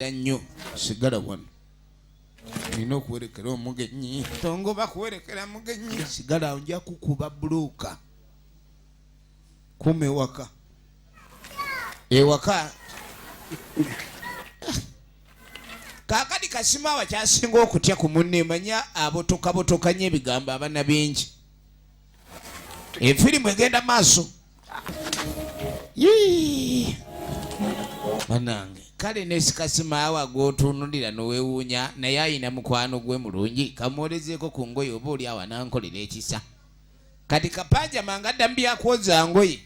Era nnyo sigala wano nina okuwerekera omugenyi tongo bakuwerekera mugenyi sigala nja kukuba buluuka kuma ewaka ewaka kakati kasima wakyasinga okutya ku munne manya abotokabotokanya ebigambo abana bingi Efirimu egenda maaso. Yii. Banange. Kale ne sikasima awa gwotunulira nowewuunya naye ayina mukwano gwe mulungi kamwolezeeko ku ngoye oba oli awa nankolera ekisa kati kapanja manga adda mubyakwoza ngoye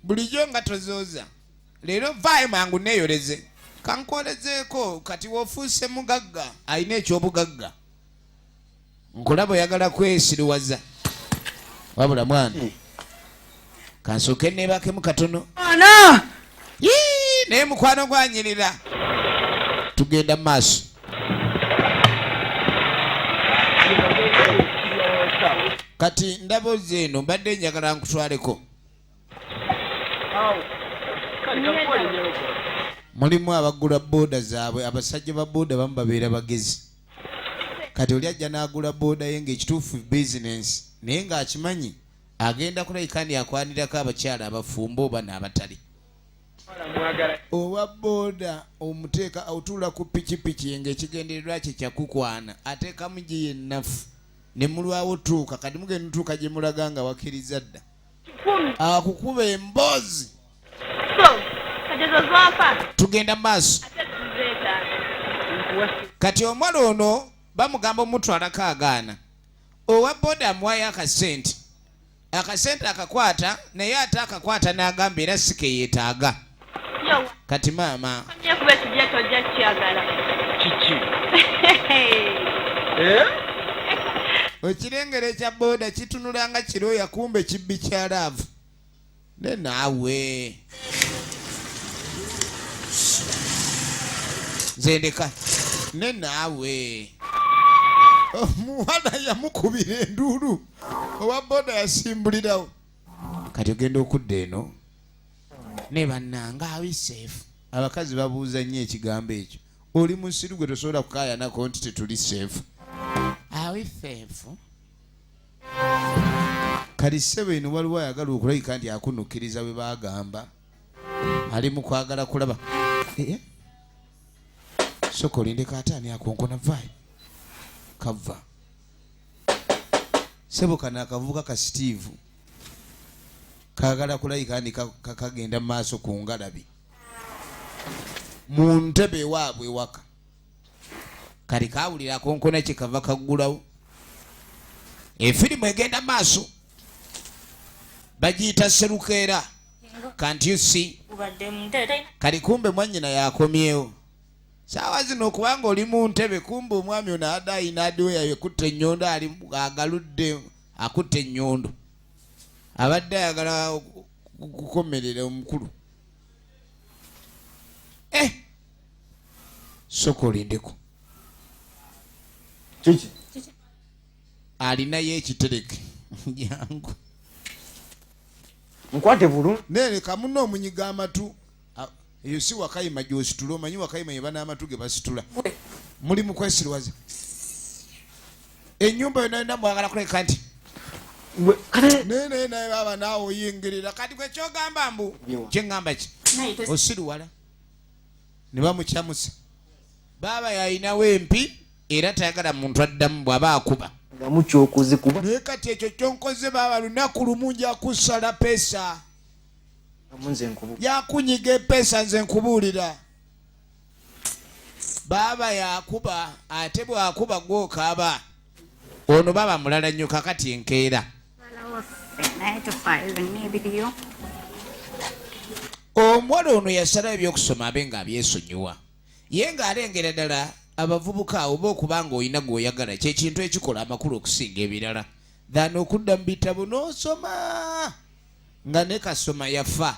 bulijjo nga tozooza leero vaayo mangu neyoleze kankwolezeeko kati wofuuse mugagga alina ekyobugagga nkulaba oyagala kwesiriwaza wabula mwana hmm. kansooke neebakemu katono ana naye mukwano gwanyirira tugenda mu maaso kati ndaba oze eno mbadde njagala nkutwaleko mulimu abagula booda zaabwe abasajja ba booda bamu babeera bagezi kati oli ajja n'agula booda ye ng'ekituufu bizinensi naye ng'akimanyi agenda kulabika ndi akwanirako abakyala abafumba oba n'abatali owa booda omuteeka otuula ku pikipiki ye ng'ekigendererwa kye kyakukwana ateekamu gye yennafu ne mulwawo tuuka kati mugenda tuuka gye mulaga nga wakkiriza dda akukuba emboozi tugenda maaso kati omwana ono bamugamba omutwalako agaana owa boda amuwayo akasente akasente akakwata naye ate akakwata n'agamba era sikeyetaaga kati maama eh? ekirengero ekya boda kitunulanga kiro yakumba ekibbi kya laavu ne naawe zendeka ne naawe omuwana oh, yamukubira enduulu owa boda yasimbulirawo kati ogenda okudda eno ne bannanga awiseefu abakazi babuuza nnyo ekigambo ekyo oli musiru gwe tosobola kukayanako nti tetuli seefu awiseefu kati ssebo eno waliwo ayagala okulabika nti akunukkiriza bwe bagamba ali mu kwagala kulaba eh, eh. soka olindeko ataani akonkona vaayo kava ssebo kano akavubuka ka steve kagala kulabika nti kakagenda mu maaso ku ngalabi mu ntebe waabwe waka kati kawulira akonkona kye kava kaggulawo efirimu egenda maaso bagiyita serukeera kanti usi kati kumbe mwanyina yakomyewo saawa zino kubanga oli mu ntebe kumbe omwami ono ada ayina adiwo yayo ekutte ennyondo ali agaludde akutte ennyondo abadde ayagala kukomerera omukulu eh! soka olindeko kiki alinayo ekitereke jangu nkwate bulu nene kamuno omunyiga amatu eyo si wakayima gyositula omanyi wakayima ye banaamatu ge basitula muli mu kwesirwaza enyumba yona yona mwagala kuleka nti naye naye naye baba naawe oyingirira kati kwekyogamba mbu kyeŋŋamba ki osiriwala ne bamucamusa baaba yalinawo empi era tayagala muntu addamu bw'aba akuba naye kati ekyo kyonkoze baaba lunaku lumu nja kusala pesa yakunyiga epeesa nze nkubuulira baaba yakuba ate bwakuba gwokaaba ono baaba mulala nnyo kakati enkeera omuwala ono yasalawo ebyokusoma abe nga abyesonyiwa ye ng'alengera ddala abavubuka oba okuba ng'olina gw'oyagala kyekintu ekikola amakulu okusinga ebirala than okudda mu bitabo n'osoma nga ne kasoma yafa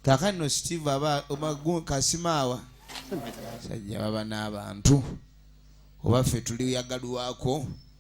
kakano steve aba kasimaawa sajja baba n'abantu oba ffe tuliyagalwako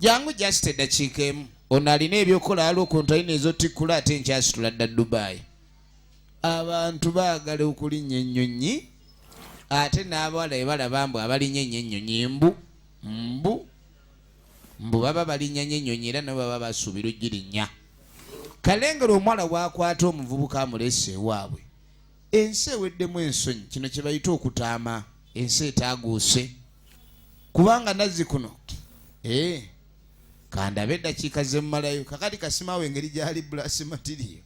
jangu just eddakiika emu ono alina ebyokukola waliwo kontaina ezotikkula ate nkyasitula dda dubayi abantu baagala okulinnya ennyonyi ate n'abawala ebalaba mbu abalinya enyo ennyonyi mbu mbu mbu baba balinya nyo ennyonyi era nabo baba basuubira ogirinnya kalengera omuwala wakwata omuvubuka amulese ewaabwe ensi eweddemu ensonyi kino kye bayita okutaama ensi etaaguuse kubanga nazzi kuno ee eh, kandabe eddakiika zemmalayo kakati kasimaawo engeri gyali bulasi matiriyo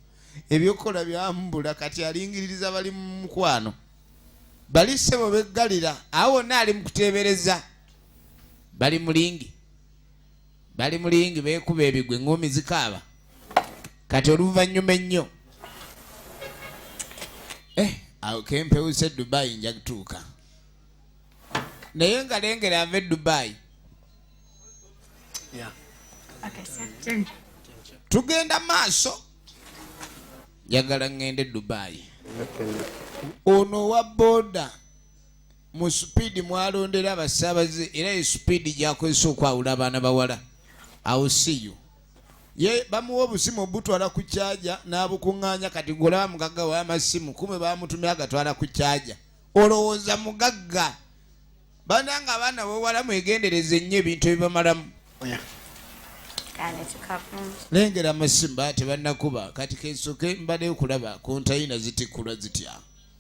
ebyokukola byambula kati alingiririza bali mu mukwano bali ssebo beggalira awo wonna ali mu kuteebereza bali mulingi bali mu lingi beekuba ebigwe ng'omi zikaaba kati oluvannyuma ennyo eh, awo kempewuse dubayi nja kutuuka naye nga lengera ava edubayi tugenda maaso njagala ŋŋende dubayi ono owa boda mu supiidi mwalondera abasaabaze era ye supiidi gyakozesa okwawula abaana bawala awo siyo ye bamuwa obusimu obutwala ku kyaja n'abukuŋŋaanya kati golaba mugagga w'amasimu kumwe bamutumya agatwala ku kyaja olowooza mugagga bananga abaana bawala mwegendereza ennyo ebintu ebibamalamu lengera amasimba tebanakuba kati kesoke mbadde okulaba kontayina zitikula zitya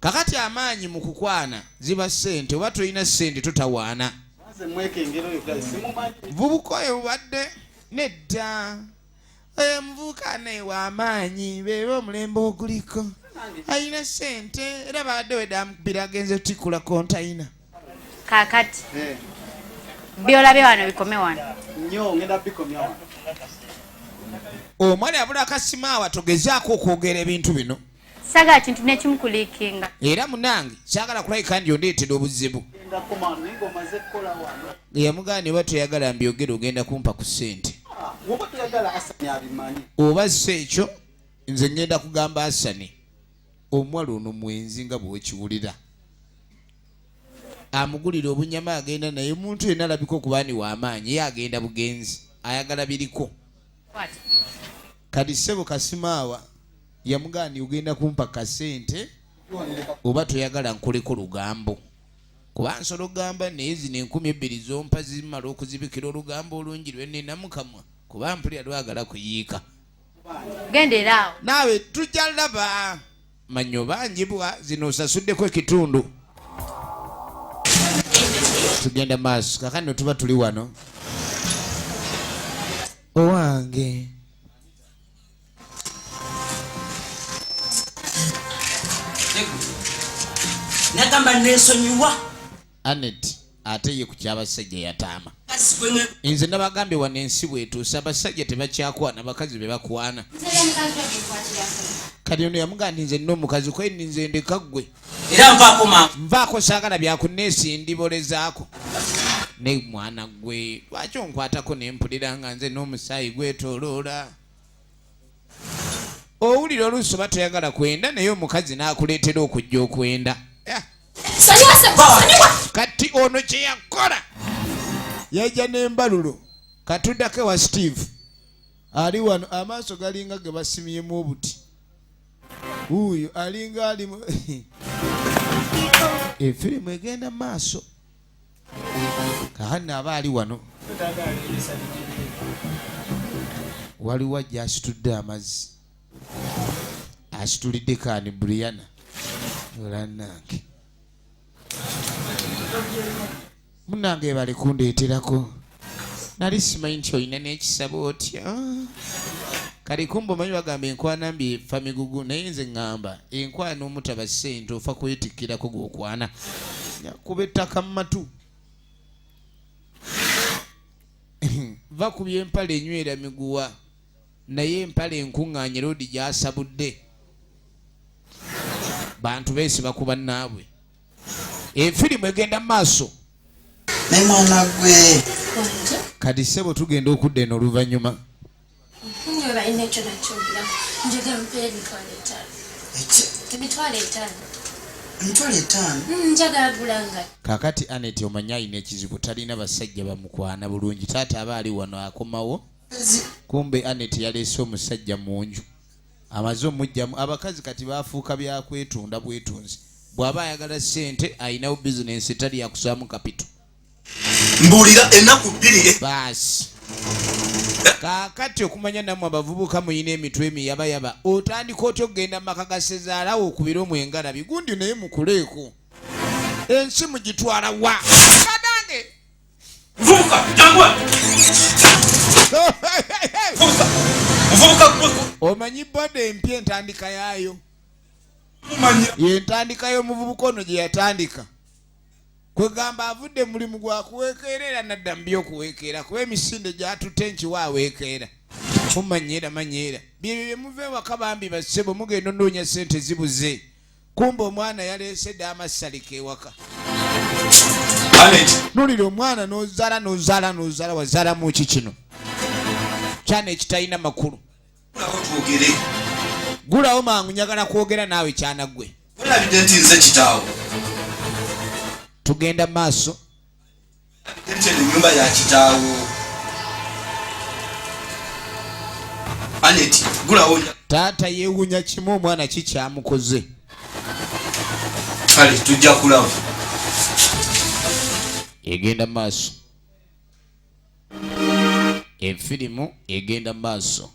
kakati amaanyi mu kukwana ziba ssente oba tolina ssente totawaana vubuka oyo bubadde nedda oyo omuvubuka naye wamaanyi beeba omulembe oguliko alina sente era baadde wedamukubira agenze otikula kontayina kakati eh. byolabye wano bikome wano omwali abula akasimaawa togezaako okwogera ebintu bino sagala kintu nekimu kulikinga era munange sagala kulabika ndi ondeetera obuzibu yamugana neba toyagala mbyogere ogenda kumpa ku sente oba si ekyo nze ngenda kugamba asani omuwala ono mwenzi nga bwekiwulira amugulira obunyama agenda naye omuntu yena alabika okubaani wamaanyi ye agenda bugenzi ayagala biriko kati sebo kasimaawa yamugandi ogenda kumpa kasente oba toyagala nkoleko lugambo kuba nsola ogamba naye zino enkumi ebbiri zompa zimala okuzibikira olugambo olungi lwenina mukamwa kuba mpulira lwagala kuyiika genderaawo naawe tujja laba manyo banjibwa zino osasuddeko ekitundu tugenda maaso kakano tuba tuli wano owange nagamba nesonyiwa anet ate ye ku kyabasajja yataama nze nabagambye wano ensi bwetuusa abasajja tebakyakwana bakazi bebakwana kati ono yamugaa ndi nze nomukazi kweni nze ndeka ggwe era nvaakoma nvaako saagala byakuneesi ndibolezaako ne mwana gwe lwaki onkwatako nempulira nga nze n'omusaayi gwetoloola owulira oluusi oba toyagala kwenda naye omukazi n'akuleetera okujja okwenda kati ono kye yakola yajja n'embalulo katudako ewa steve ali wano amaaso galinga ge basimyemu obuti wuuyo alinga alimu efirimu egenda mu maaso kahanna aba ali wano waliwo ajja asitudde amazzi asitulidde kaani briana olanange munange bali kundeeterako nali simanyi nti olina n'ekisaba otya kale kumba omanyi bagamba enkwana mbi efa migugu naye nze ŋŋamba enkwana omutaba ssente ofa kwetikkirako gwokwana kuba ettaka mu matu va ku byempale enywera miguwa naye empale enkuŋŋaanye loodi gyasabudde bantu beesiba ku bannaabwe efirimu egenda mu maaso naye mwana gwe kati sebo tugenda okudda eno oluvannyuma hmm, kakati anet omanyi alina ekizibu talina basajja bamukwana bulungi taata aba ali wano akomawo kumbe anet yaleese omusajja mu nju amaze omujjamu abakazi kati bafuuka byakwetunda bwetunzi bwaba ayagala sente alinawo bizinensi etali yakusaamu kapito mbuulira enaku bbiri baasi kakati okumanya namwe abavubuka muyina emitwe emiyabayaba otandika otya okugenda mumaka gasezaalawo okubira omwengala bigundi naye mukuleeko ensi mugitwala wa Vubuka, jangu wano. Vubuka. Vubuka gwe. Omanyi boda empya entandika yaayo? Mumanya. Yentandika y'omuvubuka ono gye yatandika. Kwegamba avudde mulimu gwa kuweekeera era nadda mu by'okuweekeera kuba emisinde gyatutte nkiwa aweekeera. Mumanya era manya era. Byebyo bye muva ewaka bambi bassebo mugenda onoonya ssente zibuze. kumba omwana yaleese dda amassalika ewaka nulira omwana nozala nozala nozala wazalamu ki kino kyana ekitalina makulu gulawo mangu nyagala kwogera naawe kyana gwe tugenda maaso nyumba ya kitaawo aneti gulawo taata yewunya kimu omwana kikyamukoze kale tujja kulaba egenda maaso efirimu egenda maaso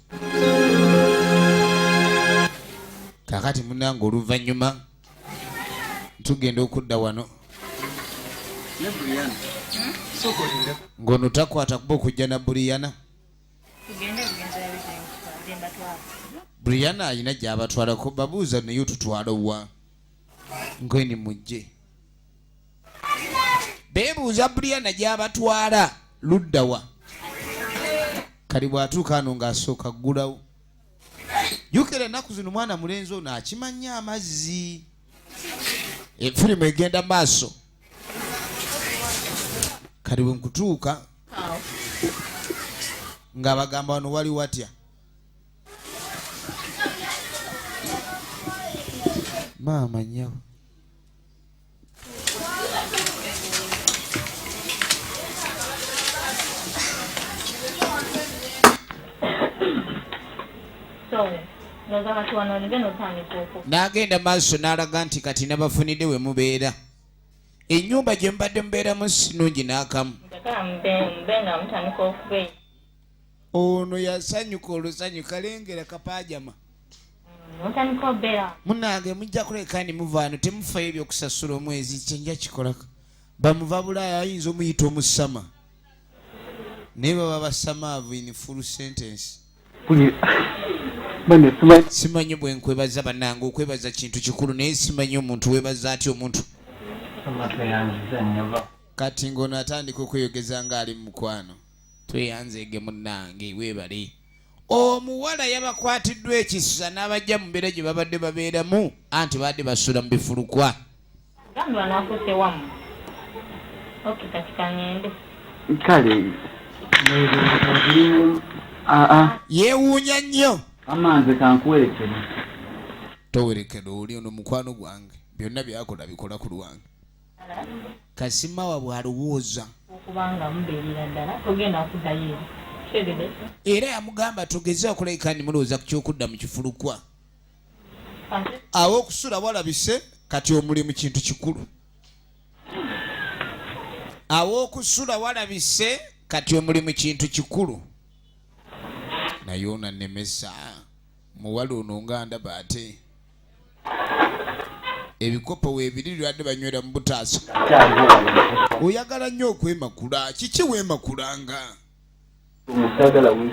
kakati munange oluvannyuma tugenda okudda wano ng'ono takwata kuba okujja na buriyana buriyana alina gyabatwalako babuuza naye otutwala wa ngweni mujje bebuuza buriyana gyabatwala luddawa kali bwatuuka ano ng'asooka ggulawo yukira ennaku zino mwana mulenzi ono akimannyo amazzi efirimu egenda maaso kati bwe nkutuuka ng'abagamba wano wali watya maama nyabo n'agenda maaso n'alaga nti kati nabafunidde we mubeera ennyumba gye mubadde mubeeramu sinungi n'akamu ono yasanyuka olusanyu kalengera kapajama munange mujja kuleka ni muvaano temufayo ebyokusasula omwezi kyenja kikolako bamuva bulaaya ayinza omuyita omusama naye baba basamaavu in full sentence simanyi bwenkwebaza banange okwebaza kintu kikulu naye simanyi omuntu webaza atya omuntu kati ngaono atandika okweyogeza ngaali mu mukwano tweyanzeege munnange weebale omuwala yabakwatiddwa ekisa n'abajja mu mbeera gye babadde babeeramu anti baadde basula mu bifulukwa kale yeewuunya nnyo amanze kankuwerekere towerekera oli ono mukwano gwange byonna byakola bikola ku lwange kasimawa bwalowooza era yamugamba tugeze okulabika ni mulowooza ku kyokudda mu kifulukwa awo okusula walabise kati omulimu kintu kikulu awo okusula walabise kati omulimu kintu kikulu naye onanemesa muwala ono nga ndaba ate ebikopo weebiri lwade banywera mu butaasa oyagala nnyo okwemakula kiki weemakulanga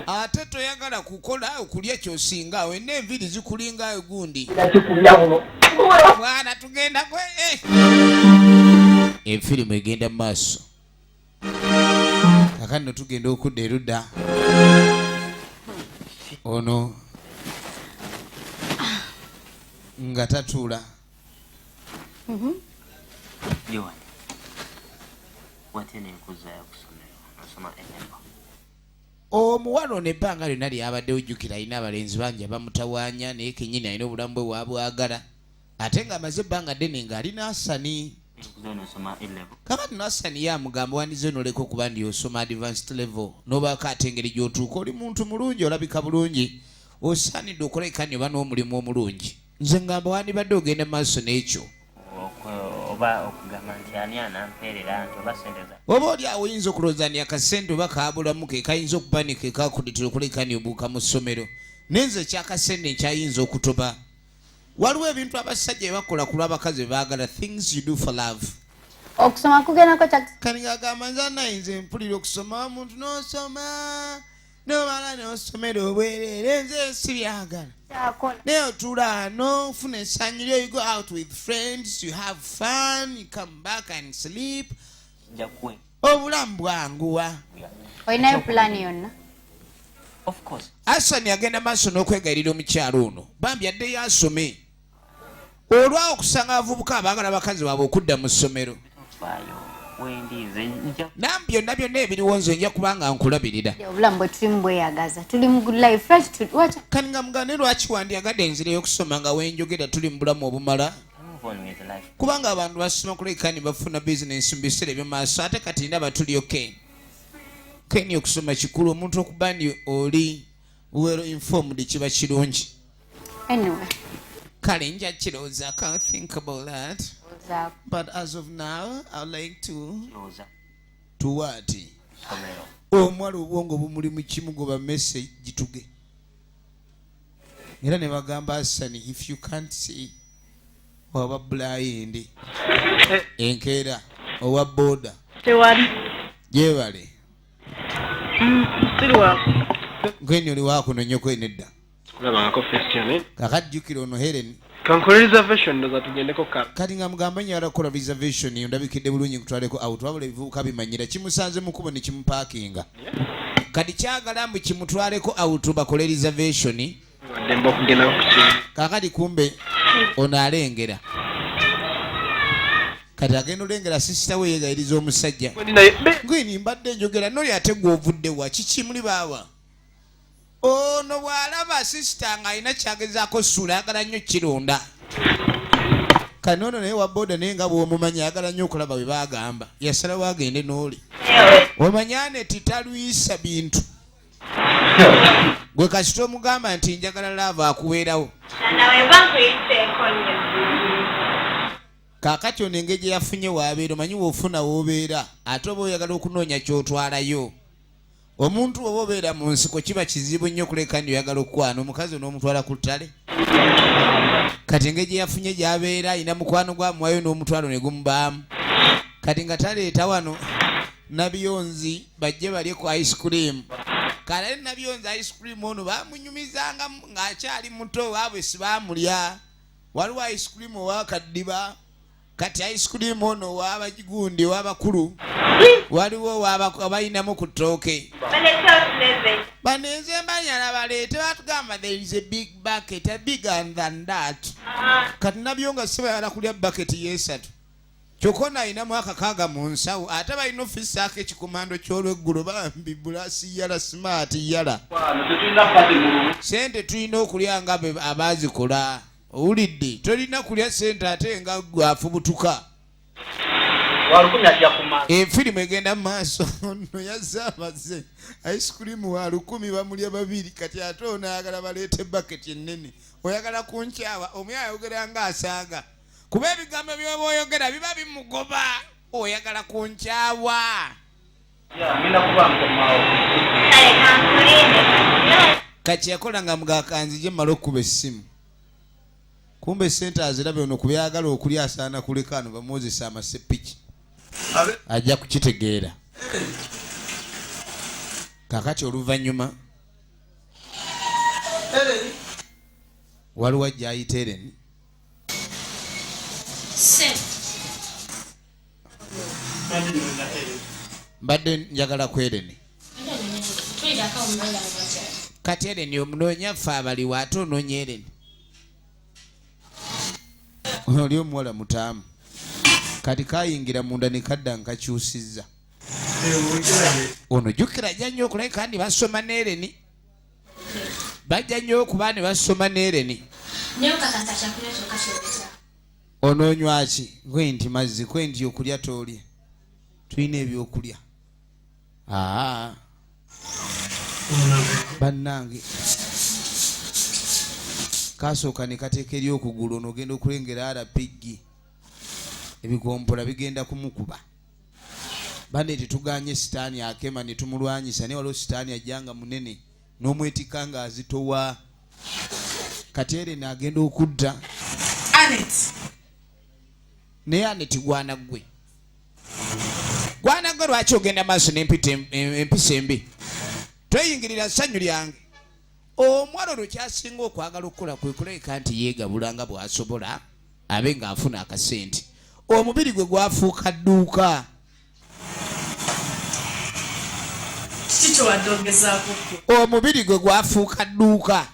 ate toyagala kukola okulya kyosinga awo ena enviiri zikulinga egundi mwana tugendako eh. efirimu egenda mu maaso kakati no tugenda okudda erudda ono nga tatuula mhm. omuwala ono ebbanga lyonna lyabadde ojjukira alina abalenzi bangi abamutawaanya naye kenyini alina obulamu bwe wabwagala ate nga amaze ebbanga ddene nga ali nasani kakati nasani ye amugamba wandize onoleka okuba ndi osoma advanced level nobaako ate engeri gyotuuka oli muntu mulungi olabika bulungi osaanidde okulabika nyoba n'omulimu omulungi nze ngamba wandibadde ogenda maaso n'ekyo oba oli awo oyinza okulowooza ni akasente oba kaabulamu ke kayinza okuba ni ke kakuditira okulabika ni obuuka mu ssomero naye nze ekyakasente nkyayinza okutoba waliwo ebintu abasajja ebakola ku lwabakazi bebaagala things you do for love okusoma kugendako kyakanige agamba nze anayinza empulira okusoma omuntu nosoma nomala nosomera obwerere nze sibyagala naye otula nofuna esanyu lyo you go out with friends you have fun you come back and sleep obulamu bwanguwa olinayo pulaani yonna asani agenda maaso n'okwegayirira omukyalo ono bambi addeyo asome olwawo okusanga abavubuka abaagala abakazi baabwe okudda mu ssomero nam byonna byonna ebiriwo nze nja kubanga nkulabirira kani nga mugane lwaki wandiyagadde enzireyo okusoma nga wenjogera tuli mu bulamu obumala kubanga abantu basoma kuleka ne bafuna bizinensi mu biseera ebyomaaso ate kati ndaba tuliyo ken ken okusoma kikulu omuntu okuba ni oli well informed kiba kirungi anyway. kale nja kirowooza can think about that but as of now i like to to what omwala obwongo bumuli mu kimu goba message gituge era ne bagamba asani if you can't see waba bulayindi enkeera owa boda tewali gyebale mm, gwenyo oli wakuno nyoko enedda kakajjukira ono hereni Kankole reservation ndoza tugendeko kala. Kati nga mugamba nyo ara kola reservation yo ndabikide bulungi kutwaleko out wabula ebivubuka bimanyira kimusanze mukubo ne kimupakinga. Kati kyagala mbu kimutwaleko out bakole reservation. Wademba okugenda ku kintu. Kakati kumbe ono alengera. Kati agenda olengera sister we yegayiriza omusajja. Ngwini mbadde njogera noli ate gwovudde wa kiki muli baawa. ono bw'alaba sisita ng'alina kyagezaako suula ayagala nnyo kirunda kano ono naye waboda naye nga bwomumanyi ayagala nnyo okulaba bwe bagamba yasalawo agende n'oli omanya neti talwisa bintu gwe kasita omugamba nti njagala laava akuweerawo kakati ono engeri gye yafunye waabeera omanyi woofuna woobeera ate oba oyagala okunoonya kyotwalayo omuntu oba obeera mu nsiko kiba kizibu nnyo okuleka ndi oyagala okukwana omukazi onoomutwala ku ttale kati engeri gye yafunye gyabeera alina mukwano gwamuwayo n'omutwalo ne gumubaamu kati nga taleeta wano nabiyonzi bajje balye ku ice cream kalale nabiyonzi ice cream ono bamunyumizanga ng'akyali muto waabwe sibamulya waliwo ice cream owakaddiba kati ice cream ono wabagigundi wabakulu waliwo wabayinamu ku ttooke banenze mbanyala baleete batugamba there is a big bucket a bigger than that uh-huh. kati nabyo nga sibayala kulya bucket yesatu kyokka ono alinamu akakaaga mu nsawo ate balina ofisaako ekikomando ky'olweggulo bambi bulasi yala simaati yala sente tulina okulya nga abaazikola owulidde tolina kulya sente ate nga gwafubutuka efirimu eh, egenda mu maaso no yazze amaze ice cream wa lukumi bamulya babiri kati ate ono ayagala baleete bucket ennene oyagala kunkyawa omu ayogera nga asaaga kuba ebigambo byoba oyogera biba bimugoba oyagala kunkyawa kati yakola nga mugakanzije mumala okukuba essimu kumba esente azirabe ono kubyagala okuli asaana kuleka ano bamuwozesa amasepiki ajja kukitegeera kakati oluvannyuma waliwo ajja ayita ereni mbadde njagala ku ereni kati ereni omunoonya fe abaliwo ate onoonya ereni oli omuwala mutaamu kati kayingira munda nekadda nkakyusizza ono jukira ajja nnyo okulae kandi basoma nereni bajja nnyo okuba ne basoma nereni onoonywa ki kwe nti mazzi kwe nti okulya toolye tulina ebyokulya aa bannange kasooka ne kateeka eri okugulu ono ogenda okulengera rpg ebigombola bigenda kumukuba bane tetuganye sitaani akema ne tumulwanyisa naye waliwo sitaani ajja nga munene n'omwetikka ng'azitowa kati ereni agenda okudda anet naye aneti gwana ggwe gwana ggwe lwaki ogenda maaso nempita empisa embi tweyingirira ssanyu lyange omwana olwo kyasinga okwagala okukola kwe kulabika nti yeegabula nga bw'asobola abe ng'afuna akasente omubiri gwe gwafuuka dduuka omubiri gwe gwafuuka dduuka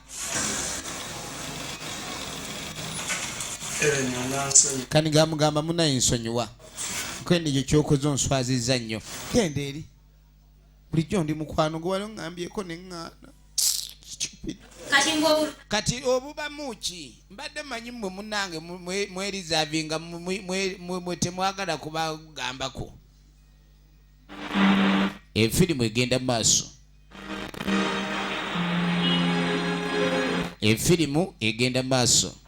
kani gamugamba munaye nsonyiwa kwene ekyo kyokoze onswaziza nnyo genda eri bulijjo ndi mukwano gwe wali oŋambyeko neŋŋaana kati obubamu ki mbadde manyi mwe munange mwerizavinga mwe temwagala kubagambako efirimu egenda maaso efirimu egenda maaso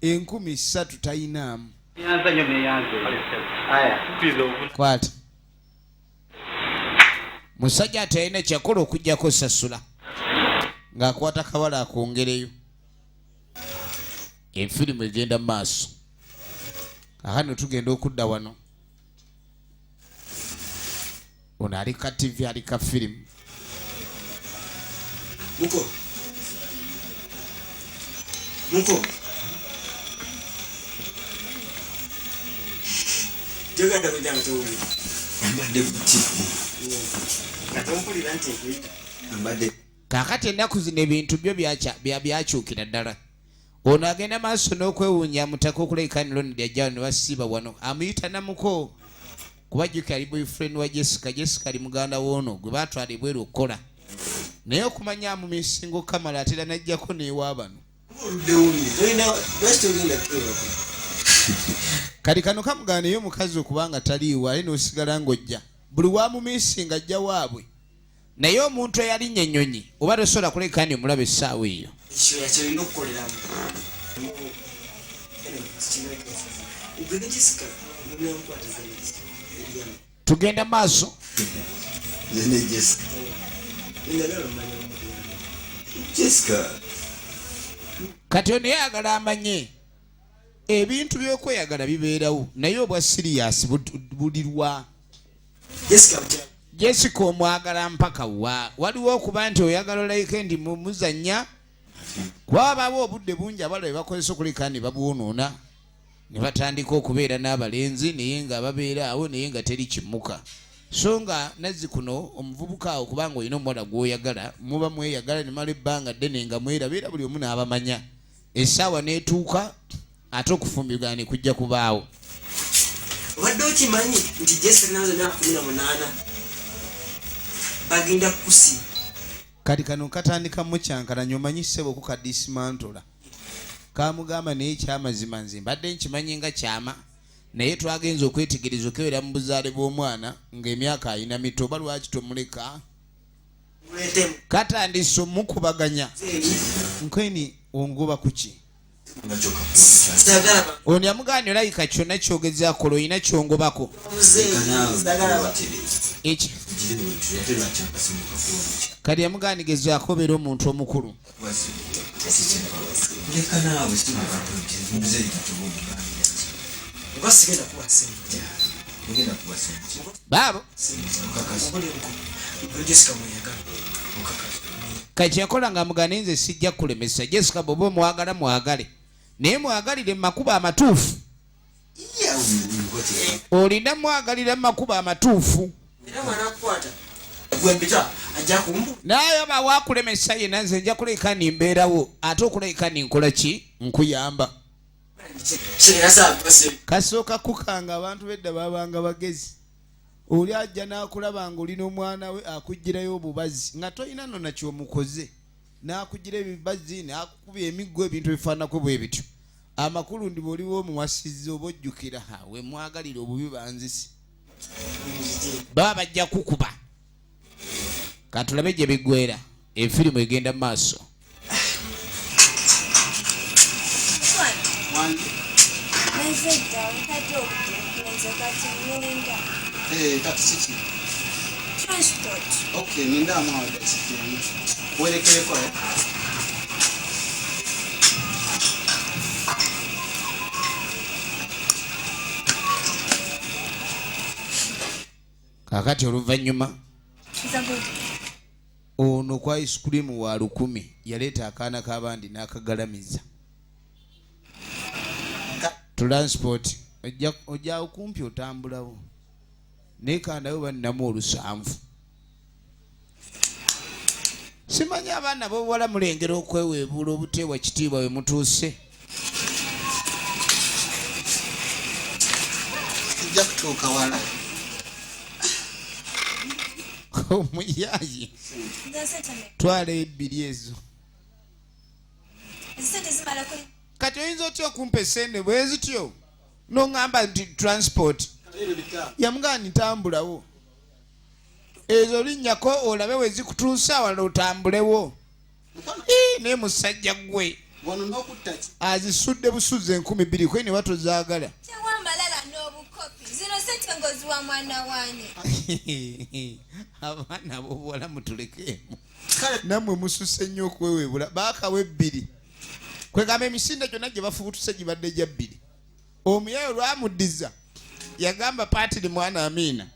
enkumi ssatu tayinaamu kwata musajja atalina kyakola okujjako osasula ng'akwata kabala akwongereyo efirimu egenda mu maaso aha no tugenda okudda wano Ono ali ka TV ali ka firimu. Muko. Muko. Joga da kujanga tawuli. Mbadde buti. Katompulira nti ekuyita. Mbadde. Kakati ennaku zino ebintu byo byakyukira ddala. ono agenda maaso n'okwewuunya amutaka okuleekaanira ono lyajjawo ne basiiba wano amuyita namuko kuba jjuki ali boyfriend wa jessica jessica ali muganda woono gwe baatwala ebweru okukola naye okumanya amumisingo kamala atera najjako neewa bano kati kano kamugaanayo omukazi okubanga taliiwo aye n'osigala ng'ojja buli wamumisinga ajja waabwe naye omuntu eyalinnya ennyonyi oba tosobola kuleka ni omulaba essaawa eyo tugenda maaso kati ono yayagala amanye ebintu byokweyagala bibeerawo naye obwa siriyasi bulirwa bud, jessica omwagala mpaka wa waliwo okuba nti oyagala olayike ndi mumuzanya kwabawo obudde bungi abala bebakozesa okulika ne babwonoona ne batandika okubeera n'abalenzi naye nga babeera awo naye nga teri kimuka so nga nazzi kuno omuvubuka awo kubanga olina omuwala gwoyagala muba mweyagala nemala ebbanga ddene nga mwerabeera buli omu n'abamanya essaawa n'etuuka ate okufumbigana ne kujja kubaawo obadde okimanyi nti jesenaazo myaka kumi na munaana bagenda kukusi kati kano katandika mukyankalanya omanyi sebo okukadisimantula kamugamba naye kyamazima nze mbadde nkimanyi nga kyama naye twagenza okwetegereza okewera mu buzaale bw'omwana ng'emyaka alina mito oba lwaki tomuleka katandise omukubaganya nkweni ongoba kuki ono yamugambye olabika kyonna kyogeza kola olina kyongobako kati yamugandigezaako obeera omuntu omukulu baabo kati yakola nga mugane nze sijja kulemesa jessica bwoba omwagala mwagale naye mwagalire mumakuba amatuufu olina mwagalira mumakuba amatuufu naye oba wakulemesa yena nze nja kuleka nimbeerawo ate okuleka ninkola ki nkuyamba kasooka kukanga abantu bedda babanga bagezi oli ajja n'akulaba nga oli n'omwana we akugirayo obubazi nga tolina nona kyomukoze n'akugira ebibazi n'akukuba emiggo ebintu ebifaanako bwe bityo amakulu ndi bwoliwo omuwasizi oba ojjukira wemwagalira obubi banzisi baba bajja kukuba katulabe gye biggwera efirimu egenda mu maaso eh, Transport. Okay, ninda mwa werekere kwa eh? kakati oluvannyuma ono kwa ice cream wa lukumi yaleeta akaana k'abandi n'akagalamiza transport ojja okumpi otambulawo naye kandayo bannamu olusanvu simanyi abaana bobuwala mulengera okweweebuula obuteebwa kitiibwa we mutuuse ojja kutuuka wala omuyayi twala ebbiri ezo kati oyinza otya okumpa esente bwezityo noŋamba nti transport yamugamba nitambulawo ezo linnyako olabe we zikutuusa wala otambulewo naye musajja gwe azisudde busuzza enkumi bbiri kwe ne batozaagala abaana bobuwala mutulekeemu nammwe mususe nnyo okweweebula baakawa ebbiri kwegamba emisinde gyonna gye bafubutuse gibadde gya bbiri omuyaye olwamuddiza yagamba patiri mwana amiina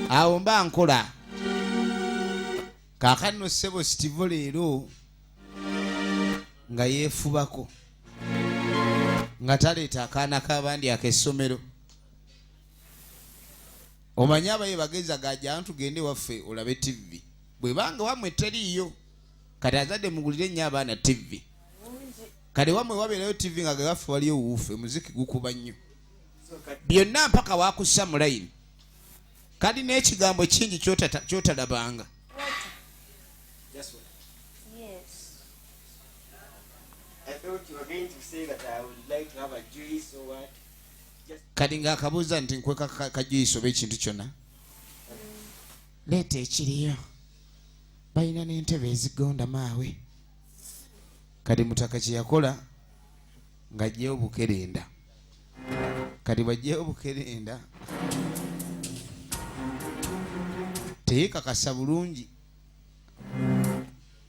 awo mba nkola kakanno sebo sitivo leero nga yeefubako nga taleeta akaana k'abandi ak'essomero omanyi abaye bageza gaja ntugende waffe olabe tivi bwebanga wamwe teriiyo kati azadde mugulire nnyo abaana tivi kale wamwe wabeerayo tv nga gagaffe waliyo wuufe muziki gukuba nnyo byonna mpaka wakussa mu layini kali n'ekigambo kingi kyotalabanga kati nga akabuuza nti nkweka kajuyisi oba ekintu kyonna leeta ekiriyo balina n'entebe ezigonda maawe kati mutaka kyeyakola nga ajjeyo obukerenda kati bajjeyo obukerenda teyekakasa bulungi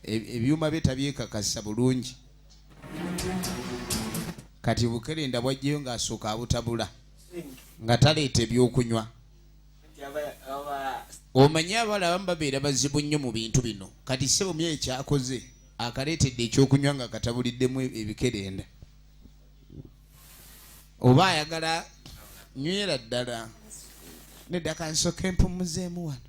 e, ebyuma bye tabyekakasa bulungi kati obukerenda bwajjeyo ngaasooka abutabula nga taleeta ebyokunywa omanyi abala abamu babeera bazibu nnyo mu bintu bino kati sebo mye ekyakoze akaleetedde ekyokunywa nga katabuliddemu ebikerenda oba ayagala nywera ddala nedda kansoka empumuzeemu wano